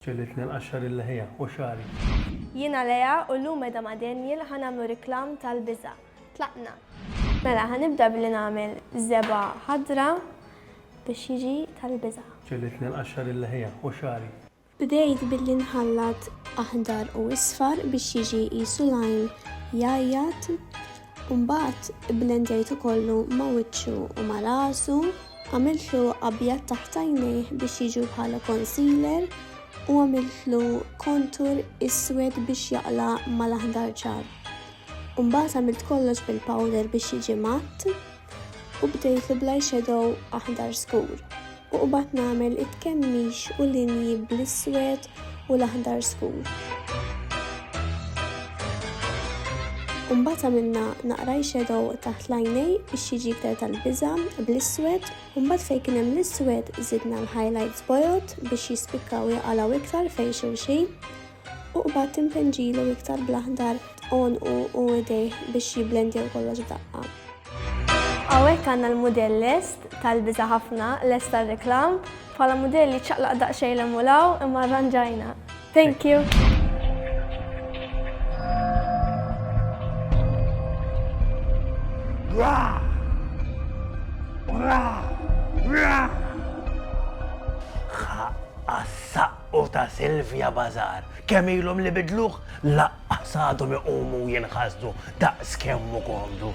Ġegħlitni nqaxxar il-leħja u xagħri. Jiena Lea u llum qiegħda ma' Daniel ħa nagħmlu reklam tal-biża'. Tlaqna! Mela ħa nibda billi nagħmel żebgħa ħadra biex jiġi tal-biża'. Ġegħlitni nqaxxar il-leħja u xagħri. Bdejt billi nħallat aħdar u isfar biex jiġi qisu l-għajn jgħajjat U mbagħad ibblendjajtu kollu ma' wiċċu u ma' rasu, għamiltlu abjad taħt għajnejh biex jiġu bħala concealer u għamiltlu kontur iswed biex jaqla' mal-aħdar ċar. U mbagħad għamilt kollox bil-powder biex jiġi matt. u bdejtu bl-eyeshadow aħdar skur u qbad nagħmel it-tkemmix u linji bl-iswed u l-aħdar skur. Umbagħad għamilna naqra eyeshadow taħt l-għajnej biex jiġi iktar tal-biża bl-iswed, umbagħad fejn kien hemm l-iswed żidna l-highlights bojod biex jispikkaw jaqalgħu iktar fejn xulxin. U qbad timpenġilu iktar bl-aħdar tqonqu u idejh biex jiblendjaw kollox f'daqqa. Hawnhekk għandna l-mudell lest tal-biża' ħafna lest tar-reklam bħala mudell li ċaqlaq daqsxejn l-emulaw imma arranġajna. Thank you! Rah! Rah! Rah! u ta' Sylvia Bazar kemm ilhom li bidluh lanqas għadhom iqumu jinħasdu daqs kemm hu komdu.